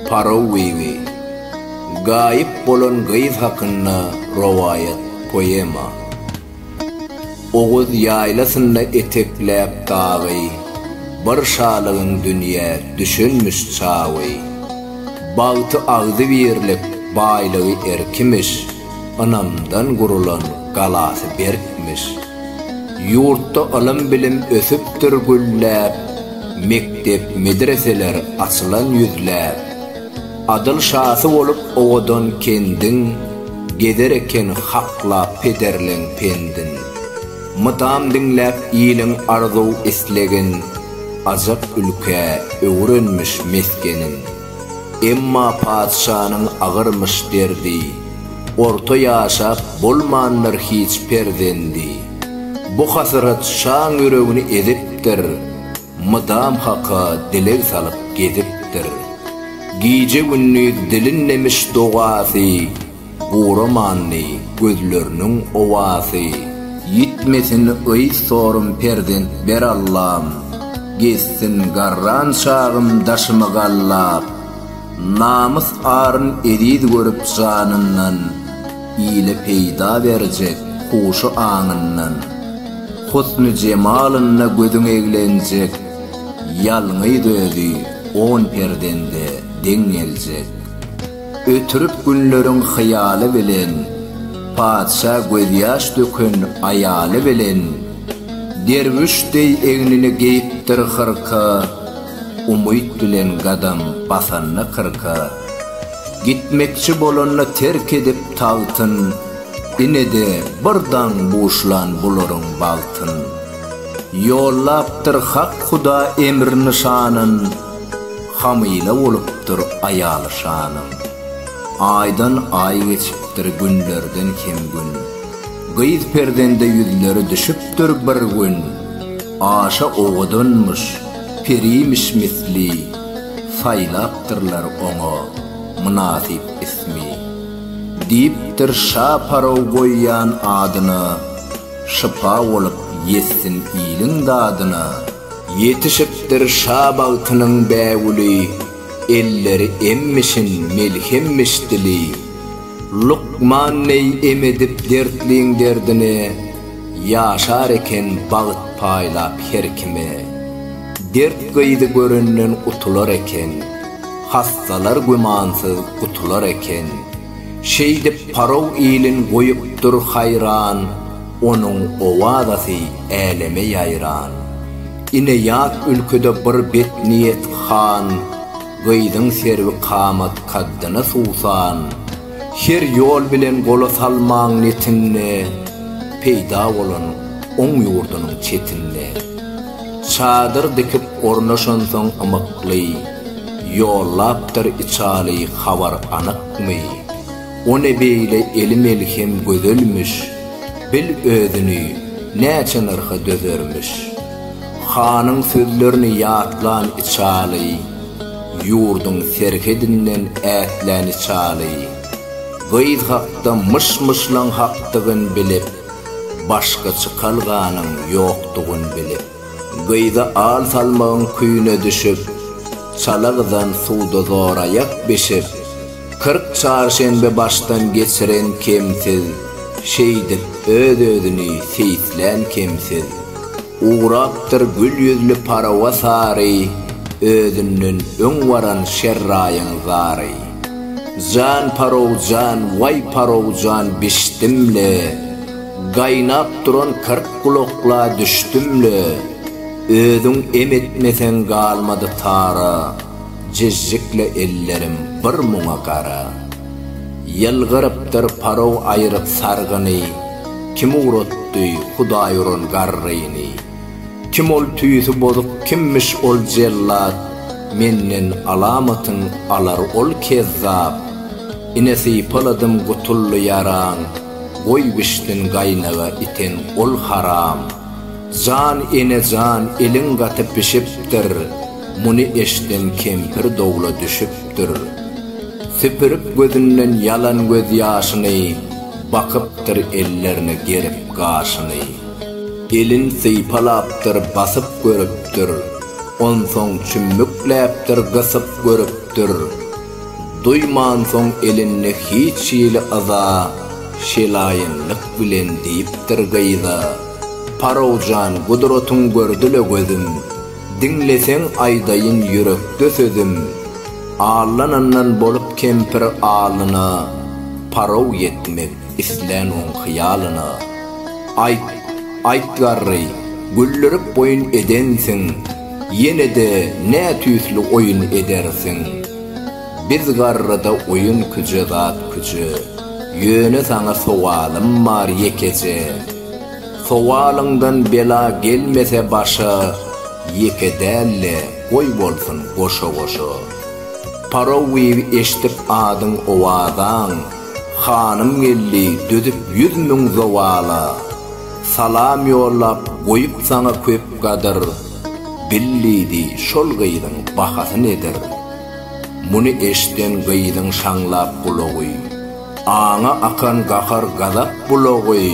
Paraw gyzy. Gaýyp bolan gyz hakynda rowaýat, poema. Oguz ýaýlasynda etekläp dagy, Bir şalygyň dünýä düşünmiş çagy. Bagty agzybirlik, baýlygy erkimiş. ynamdan gurulan galasy berkmiş. Ýurtda ylym-bilim ösüpdir gülläp, mekdep-medreseler açylan ýüzläp. Adyl şasy bolup owadan kendiň, gezer eken haklap pederleň pendin. Mydam diňläp iliň arzuw-islegin, ajap ülkä öwrenmiş mesgenin. Emma patyşanyň agyrmyş derdi, Orta ýaşap bolmandyr hiç perzendi. Bu hasyrat şaň ýüregini ezipdir, Mydam Haka dileg salyp gezipdir. Gije-gündiz dilinmemiş dogasy, Guramandy gözleriniň owasy. Ýitmesin yz sorym perzent ber Allam, Gezsin garran çagym daşymy gallap. Namys aryn eziz görüp janyndan, Ile peýda berjek huşy aňyndan. Husny jemalynda gözüň eglenjek, Ýalňyz özi on perzende deň geljek. Ötürip günleriň hyýaly bilen, Patyşa gözýaş döken aýaly bilen, Derwüş deý egnine geýipdir hyrka, Umyt bilen gadam basanda kyrka. Gitmekçi bolanda terk edip tagtyn, Ine-de bir daň buşlan bularyň bagtyn. Ýollapdyr Hak Huda emr-nyşanyn, Hamyla bolupdyr aýaly şanyň. Aýdan aý geçipdir günlerden kem gün. Gyz perzende ýüzleri düşüpdir bir gün. Aşa owadanmyş, perimiş misli. Saýlapdyrlar oňa mynasyp ismi. Diýipdir şa paraw goýýan adyna. Şypa bolup ýetsin iliň dadyna. Ýetişipdir şa bagtynyň bägüli, Elleri emmişin, melhemmiş dili. Lukman neý em edip dertliň derdine, Ýaşar eken bagt paýlap her kime. Dert gyzy görenden utular eken, Hassalar gümansyz gutular eken. Şeýdip Paraw ilin goýupdyr haýran, Onuň owazasy äleme ýaýran. Ine ýat ülkede bir betniýet han, Gyzyň serwi kamat kaddyna suwsan. Her ýol bilen gola salmaň netinde, Peýda bolan oň ýurdunyň çetinde. Çadyr dikip ornaşansoň ymykly, Ýollapdyr içaly habar anykmy? O ne beýle eli melhem gözelmiş, Bil özüni, näçe nyrha dözermiş. Hanyň sözlerini ýatlan içaly, Ýurduň serhedinden ätlän içaly. Gyz hakda myş-myşlaň hakdygyn bilip, Başga çykalganyň ýokdugyny bilip, gyza al salmagyň küýüne düşüp, çala gyzan suwda zoraýak bişip, kyrk çarşenbe başdan geçiren kemsiz, şeýdip öz-özüni seýislän kemsiz. Ugrapdyr gül ýüzli parawa sary, Özünden öň baran şerraýyň zary. Jan parowjan, waý parowjan bişdim-le, Gaýnap duran kyrk gulakla düşdüm-le. Özüň em etmeseň galmady tara. Jizjikli ellerim bir muňa gara. Ýylgyrypdyr parog aýryp sargyny, Kim ugratdy Hudaý uran garryny? Kim ol tüýsi bozuk kimmiş ol jellat, Menden alamatyn alar ol kezzap. Ine sypaladym gutuldy ýaraň, Goý bişsin gaýnaga iten ol haram. Jan ene jan eliň gaty bişipdir. Muny eşden kempir dowla düşüpdir. Süpürip gözünden ýalan göz ýaşyny, Bakypdyr ellerine gerip gaşyny. Elin sypalapdyr, basyp görüpdir, Onsoň çümmükläpdir, gysyp görüpdir. Duýman soň elinde hiç hili yza, Şelaýynlyk bilen diýipdir gyza, Parowjan, gudratyň gördi-le gözüm. Diňleseň aýdaýyn ýürekde sözüm, Allanandan bolup kempir alyna, Parow ýetmek islän oň hyýalyna. Aýt, aýt garry, güldirip boýun edensiň, Ýene-de nätüýsli oýun edersiň? Biz garryda oýun küje zat küje, Ýöne saňa sowalym bar ýekeje. Sowalyňdan bela gelmese başa Ýeke däl-le, goý bolsun, goşa-goşa. Parowiý eşdip adyň owazaň, Hanym geldi, dözüp ýüz müň zowala. Salam ýollap, goýup saňa köp gadyr, Bil diýdi, şol gyzyň bahasy nedir? Muny eşden gyzyň şaňlap gulagy. Aňa akan gahar-gazap bulagy,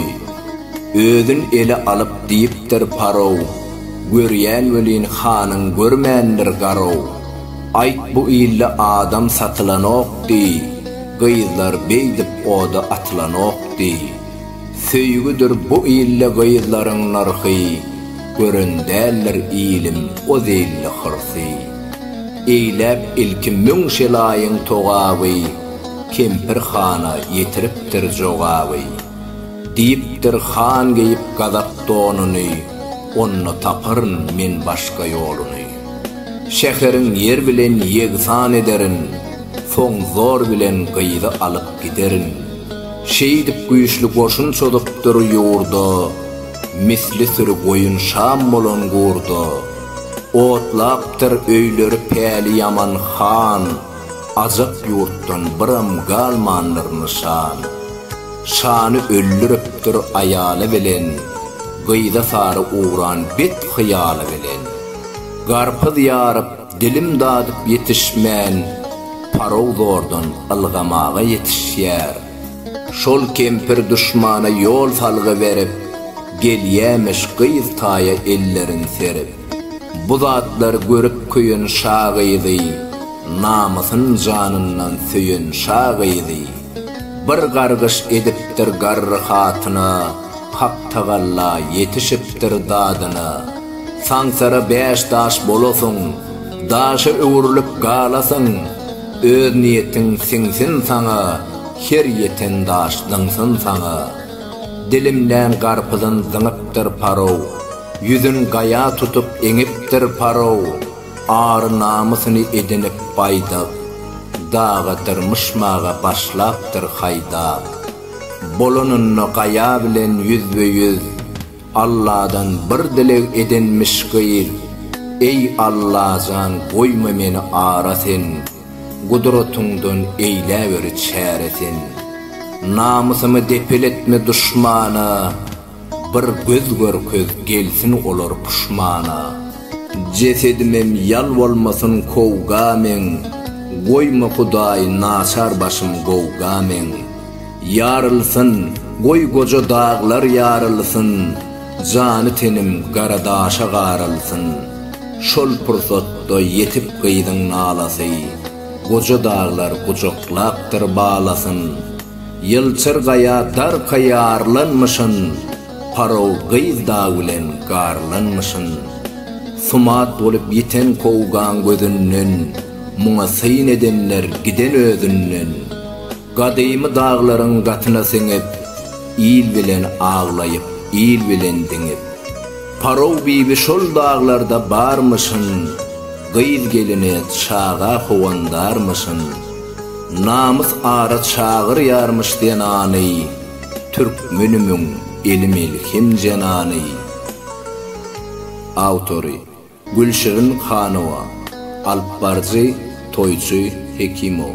Özün ele alyp diýipdir parow, Görýän welin hanyň görmändir garow. Aýt bu ilde adam satylanok diý, Gyzlar beýdip oda atylanok diý. Söýgüdir bu ilde gyzlaryň nyrhy, Gören däldir ilim o zilli hyrsy. Eýläp ilki müň şelaýyň togaby, Kempir hana ýetiripdir jogaby. Diýipdir, Han geýip gazak donuny, Onda taparyn men başga ýoluny. Şäheriň ýer bilen ýegsan ederin, Soň zor bilen gyzy alyp giderin. Şeýdip güýçli goşun çozupdyr ýurda, Misli süri goýun şam bolan gurda. Otlapdyr öýleri päli ýaman han, Ajap ýurtdan biram galmandyr nyşan. Şany öldüripdir aýaly bilen, Gyza sary ugran bet hyýaly bilen. Garpyz ýaryp, dilim dadyp ýetişmän, Parog zordan ylgamaga ýetişýär. Şol kempir duşmana ýol salgy berip, Gelýämiş gyz taýa ellerin serip. Bu zatlary görüp köýen şa gyzy, Namysyn janyndan söýen şa gyzy, Bir gargyş edipdir garry hatyna, Haktagalla ýetişipdir dadyna. Saňsara bäş daş bolasyň, Daşa öwrülip galasyň, Öz niýetiň siňsin saňa, Her ýeten daş zyňsyn saňa. Dilimlän garpyzyn zyňypdyr Paruh, Ýüzün gaýa tutup eňipdir Faraw, Ary-namysyny edinip baýdak, Daga dyrmyşmaga başlapdyr haýdak. Bolanynda gaýa bilen ýüzbe-ýüz, Alladan bir dileg edinmiş gyz, Eý, Allajan, goýma meni ara sen, Gudratyňdan eýläwer çäre sen. Namysymy depeletme duşmana, Bir göz görkez gelsin olar puşmana. Jesedimem ýal bolmasyn kowga meň, Goýma Hudaý naçar başym gowga meň. Ýarylsyn, goý goja daglar ýarylsyn, Jany tenim gara daşa garylsyn. Şol pursatda ýetik gyzyň nalasy, Goja daglar gujaklapdyr balasyn. Ýylçyr gaýa darka ýarlanmyşyn, Paraw gyz dag bilen garlanmyşyn. Sumat bolup ýiten kowgaň gözünden, Muňa syn edenler giden özünden. Gadymy daglaryň gatyna siňip, Il bilen aglaýyp, il bilen diňip. Parow bibi şol daglarda barmyşyn, Gyz gelini çaga howandarmyşyn. Namys ara çagyrýarmyş zenany, Türkmenimiň eli melhem jenany. Awtory, Gülşirin Hanowa. Alypbaryjy, Toýçy Hekimow.